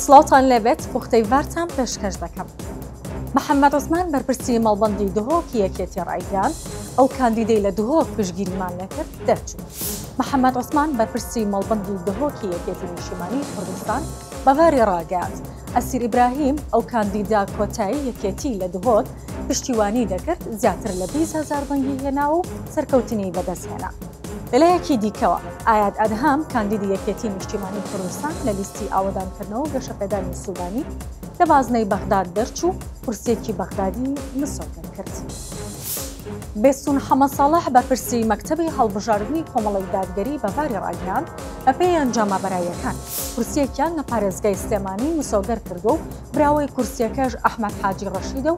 سڵاوتان لێبێت پوختەی ڤارتان پێشکەش دەکەم. محەممەد عوسمان بەرپرسی مەڵبەندی دهۆکی یەکێتی ڕایگەیاند، ئەو کاندیدەی لە دهۆک پشتگیریمان نەکرد دەرچوو. محەممەد عوسمان بەرپرسی مەڵبەندی دهۆکی یەکێتی نیشتیمانیی کوردستان بە ڤاری ڕاگەیاند، ئەسیر ئیبراهیم، ئەو کاندیدە کۆتای یەکێتی لە دهۆک پشتیوانیی دەکرد، زیاتر لە بیست هەزار دەنگی هێنا و سەرکەوتنی بەدەستهێنا. لەلایەکی دیکەوە، ئایاد ئەدهام، کاندیدی یەکێتیی نیشتیمانیی کوردستان لە لیستی ئاوەدانکردنەوە و گەشەپێدانی سوودانی لە بازنەی بەغداد دەرچوو، کورسییەکی بەغدادی مسۆگەر کرد. بێستوون حەمە ساڵح، بەرپرسی مەکتەبی هەڵبژاردنی کۆمەڵەی دادگەری بە باری ڕاگەیاند، بەپێی ئەنجامە بەراییەکان، کورسییەکیان لە پارێزگای سلێمانی مسۆگەر کردووە و براوەی کورسییەکەش ئەحمەد حاجی ڕەشیدە و